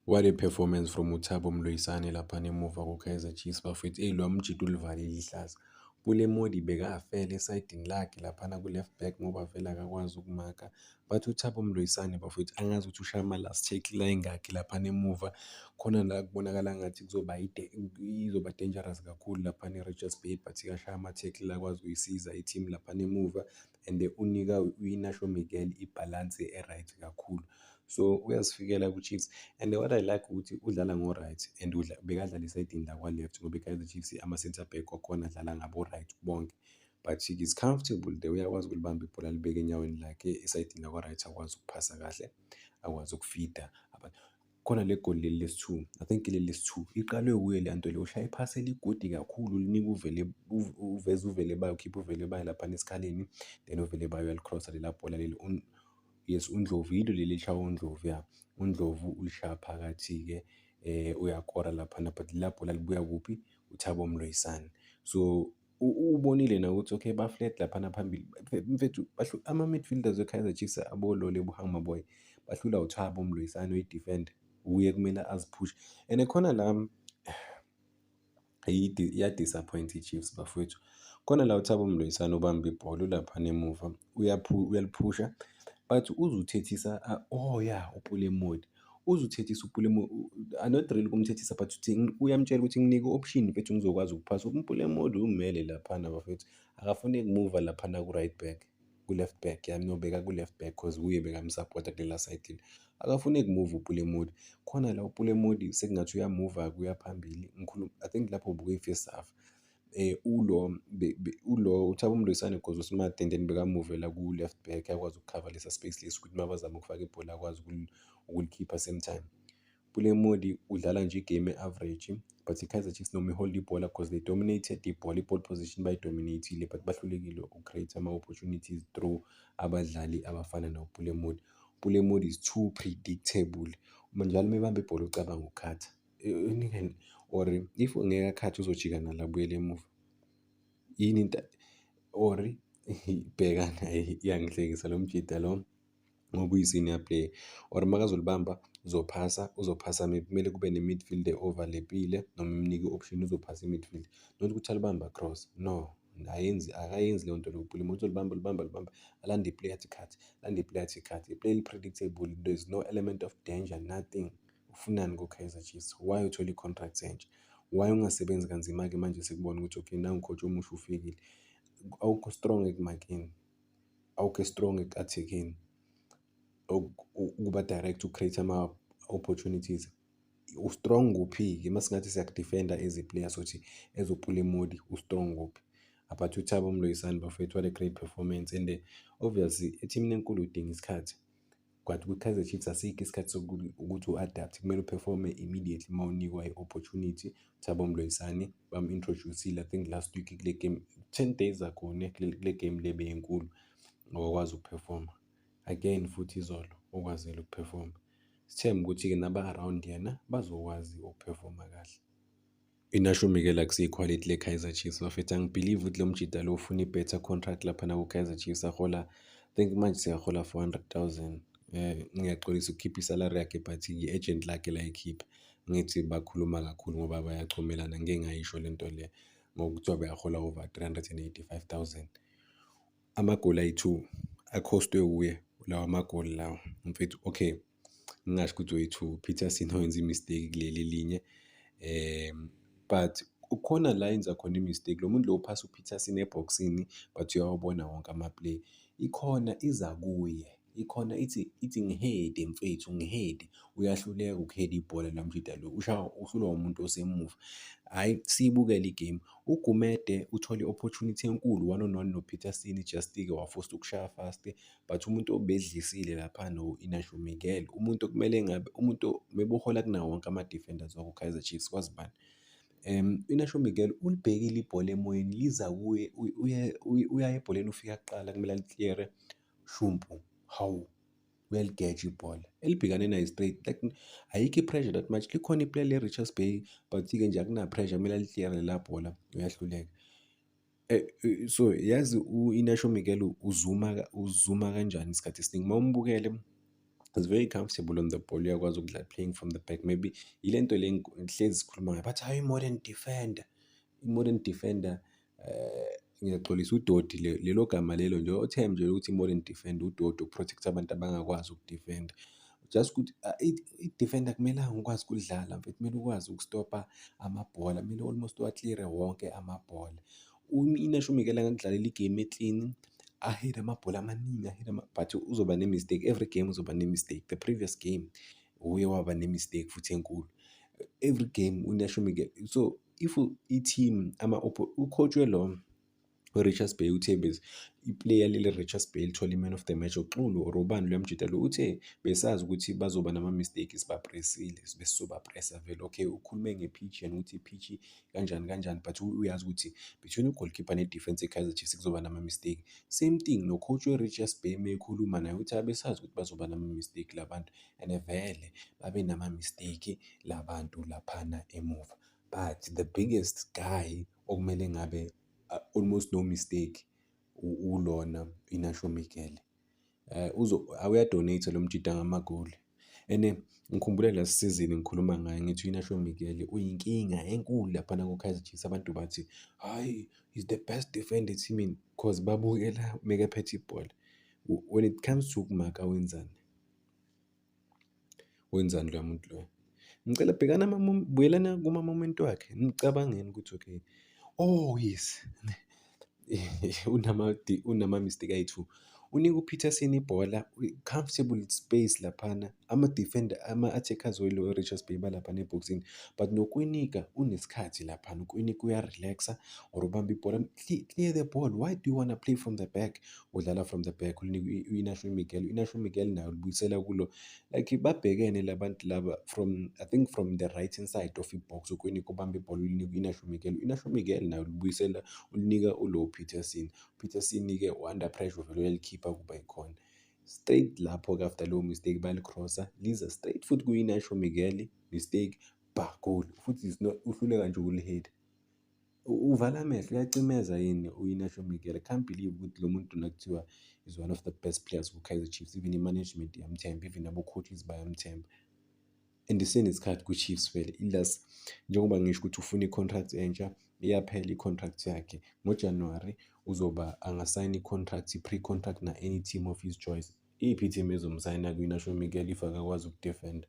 What a performance from uThabo Mloyisane lapha nemuva kuKaizer Chiefs bafethu. Eyi lo mjita ulivalile ihlaza. Pule Modi bekafele esayidini lakhe laphana ku-left back ngoba vele akakwazi ukumaka. But uThabo Mloyisane bafethu angazi ukuthi ushaya ama-last tackle la engakhi laphana emuva. Khona la kubonakala ngathi kuzoba izoba dangerous kakhulu laphana e-Richards Bay but kashaya ama-tackle akwazi ukuyisiza i-team laphana emuva. and unika uInacio Miguel ibhalansi e-right kakhulu so uyasifikela ku-Chiefs and what I like ukuthi udlala ngo-right and bekadlala esayidini lakwa-left ngoba i-Kaizer Chiefs ama-centre back wakhona adlala ngabo-right bonke but he is comfortable there uyakwazi ukulibamba ibhola libeke enyaweni lakhe esayidini lakwa-right akwazi ukuphasa kahle akwazi ukufida Khona le goli leli lesi-two, I think ileli lesi-two. Iqalwe wuye le nto le, ushaya iphasi eligodi kakhulu ulinika uvele uveze uvele bayo, ukhipha uvele bayo laphana esikhaleni then uvele bayo uyalikrosa lela bhola leli. Yes, uNdlovu yilo leli elishaywa uNdlovu ya. UNdlovu ulishaya phakathi-ke um uyakora laphana but lela bhola libuya kuphi? UThabo Mloyisane. So. Ubonile nawe ukuthi okay ba-flat laphana phambili. Mfethu ama-midfielders we-Kaizer Chiefs abolole buhamba boy. Bahlula uThabo Mloyisane oyi-defender. Wuye kumele aziphushe. And khona la iya-disappoint i-Chiefs bafowethu. Khona la uThabo Mloyisane ubamba ibhola ulaphana emuva uyaliphusha but uze uthethisa oh ya uPule Modi. Uzuthethisa uPulemo I not really ukumthethisa but uthi uyamtshela ukuthi nginike option mfethu ngizokwazi ukuphasa. UPulemo ulimele laphana bafethu. Akafune kumuva laphana ku-right back ku-left back yami ngiyobeka ku-left back cause wuye bekamsapota kulela side le. Akafune kumuva uPulemodi. Khona la uPulemodi sekungathi uyamuva-ke uya phambili. Ngikhuluma I think lapho ubukwe i-first half. eh ulo be, be, ulo uThabo Mloyisane gozo smart and then bekamuvela ku left back akwazi ukukhava lesa space lesi ukuthi mabazama ukufaka ibhola akwazi ukulikhipha same time Pule Modi udlala nje igame average but iKaizer Chiefs noma ihold ibhola because they dominated ibhola iball position bayidominatile but bahlulekile ucreate ama opportunities through abadlali abafana noPule Modi Pule Modi is too predictable uma njalo mebamba ibhola ucabanga ukukhatha Eh, ningani or if ngeke akhathi uzojika nalo abuyele emuva yini into or bhekana iyangihlekisa lo mjida lo ngoba uyisenior player or makazolibamba uzophasa uzophasa maybe kumele kube ne-midfield overlappile noma imnike i-option uzophasa i-midfield not ukuthi alibamba cross no ayenzi akayenzi leyo nto lokupula umuntu olibamba olibamba olibamba alande iplay athi khathi alande iplay athi khathi iplay eli-predictable there's no element of danger nothing Ufunani kuKaizer Chiefs? Why uthole i-contract entsha? Why ungasebenzi kanzima-ke manje sikubona ukuthi okay nangu coach omusha ufikile. Awukho strong ekumakeni. Awukho strong ekuathekeni. Ukuba direct ucreate ama-opportunities. U-strong kuphi-ke uma singathi siyakudifenda as a player sothi as uphula imodi u-strong kuphi? But uThabo Mloyisani bafethu what a great performance and obviously ethimini enkulu udinga isikhathi. But kwi-Kaizer Chiefs asikho isikhathi sokuthi ukuthi u-adapt kumele uperforme immediately uma unikwa i-opportunity. Thabo Mloyisane bamu-introduce-ile I think last week kule game ten days ago ne kule kule game le beyinkulu ngokwazi ukuperforma. Again futhi izolo okwazile ukuperforma. Sithembe ukuthi-ke naba-around yena bazokwazi ukuperforma kahle. INashumi ke la kuseyikhwalithi leKaizer Chiefs bafethu angibhilive ukuthi lo mjida lo ufuna ibetha contract laphana kuKaizer Chiefs ahola think manje seyahola 400,000 um eh, ngiyaxolisa ukukhipha isalari yakhe but yi-agent lakhe layikhipha ngithi bakhuluma kakhulu ngoba bayachomelana ngike ngayisho le nto le ngokuthiwa beyahola over 385,000 amagoli ayi-two akhostwe wuye lawa magoli lawa mfethu okay ngingasho ukuthi oyi-two Peterson owenza i-mistake kuleli elinye um but ukhona la enza khona i-mistake lo muntu lo uphasa u-Peterson ebhokisini but uyawabona wonke ama-play ikhona iza kuye ikhona ithi ithi ngihede mfethu ngihede uyahluleka ukuheda ibhola la mjida lo ushawa uhlulwa umuntu osemuva hhayi siyibukele igame ugumede uthole i-opportunity enkulu one on one nopeter sini just-ke wafosta ukushaya fast but umuntu obedlisile lapha no-Inacio Miguel, umuntu okumele ngabe umuntu mebuhola kunawo wonke ama-defenders waku-Kaizer Chiefs kwazi bani. Um, u-Inacio Miguel ulibhekile ibhola emoyeni liza kuye uya ebholeni ufika kuqala kumele alikliyere shumpu, hawu uyaligeja ibhola elibhekane nayo straight like ayikho i-pressure that much likhona iplay le-Richards Bay but-ke nje akunapressure kumele alikliyere la bhola uyahluleka. Eh, eh, so yazi u-Inacio Miguel uzuma uzuma kanjani isikhathi esiningi. Uma umbukele is very comfortable on the ball, uyakwazi ukudlala playing from the back. Maybe yile nto le ngihlezi sikhuluma ngayo bathi hhayi i-modern defender, i-modern defender eh, ngiyaxolisa udoti lelo gama lelo nje othe mnje ukuthi i-modern defender udoti ukuprotect abantu abangakwazi ukudifenda. just ukuthi ah, i-defender kumelanga ukwazi ukudlala mfethu kumele ukwazi ukustopa amabhola kumele almost uwa-cleare wonke amabhola inasho umikela ngakudlalela igame eklini ahede amabhola amaningi ahede but uzoba ne-mistake every game uzoba ne-mistake the previous game uye waba ne-mistake futhi enkulu every game unasho umikela so if i-team ama-coach welo URichards Bay uthe bese iplayer leli Richards Bay lithola i-man of the match uXulu or ubani loya mjita lo uthe besazi ukuthi bazoba nama-mistake sibapresile besizobapresa vele okay ukhulume nge-pitch yena ukuthi i-pitch kanjani kanjani but uyazi ukuthi between u-goalkeeper ne-defense e-Kaizer Chiefs kuzoba nama-mistake same thing no-coach we-Richards Bay meyikhuluma naye uthi abesazi ukuthi bazoba nama-mistake labantu and vele babe nama-mistake labantu laphana emuva but the biggest guy okumele ngabe uh, almost no mistake ulona inasho mikele eh uzo awuyadonate lo mjida ngamagoli ene ngikhumbule la sizini ngikhuluma ngaye ngithi inasho mikele uyinkinga enkulu lapha na kokaizer chiefs abantu bathi hayi is the best defender team in cause babukela meke phethe ibhola when it comes to kumaka wenzani Wenzani loya muntu loya? Ngicela bhekana ama-mom buyelana kuma-moment wakhe, nicabangeni ukuthi okay, oh yes, unamadi unama-mistake ayi-two. Unika uPeterson ibhola kwi-comfortable space laphana, ama-defender ama-attackers weRichards Bay balaphana ebhokisini but noKwinika unesikhathi laphana, uKwinika uya-relax-a or ubamba ibhola, clear the ball, why do you wanna play from the back? udlala from the back ulinika uInacio Miguel uInacio Miguel naye ulibuyisela kulo like babhekene labantu laba from I think from the right hand side of ibox ukweni kubamba ibhola ulinika uInacio Miguel uInacio Miguel naye ulibuyisela ulinika uLo Peterson Peterson ke under pressure vele uyalikhipha kuba ikhona straight lapho ke after leyo mistake balicrossa liza straight futhi kuInacio Miguel mistake ba goal futhi uhluleka nje ukulihit Uvala amehlo uyacimeza yini uInacio Miguel. I can't believe ukuthi lo muntu lona kuthiwa is one of the best players kuKaizer Chiefs. Even i-management iyamthemba, even abo-coaches bayamthemba. And isenesikhathi kwiChiefs vele ilas njengoba ngisho ukuthi ufuna i-contract entsha iyaphela i-contract yakhe ngoJanuwari uzoba angasayina i-contract i-pre-contract na-any team of his choice. Iyiphi i-team ezomsayina kwi-National Miguel if akakwazi ukudefenda?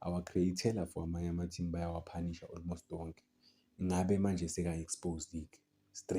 our createla for amanye ama team bayawaphanisha almost wonke ngabe manje seka exposed ke straight.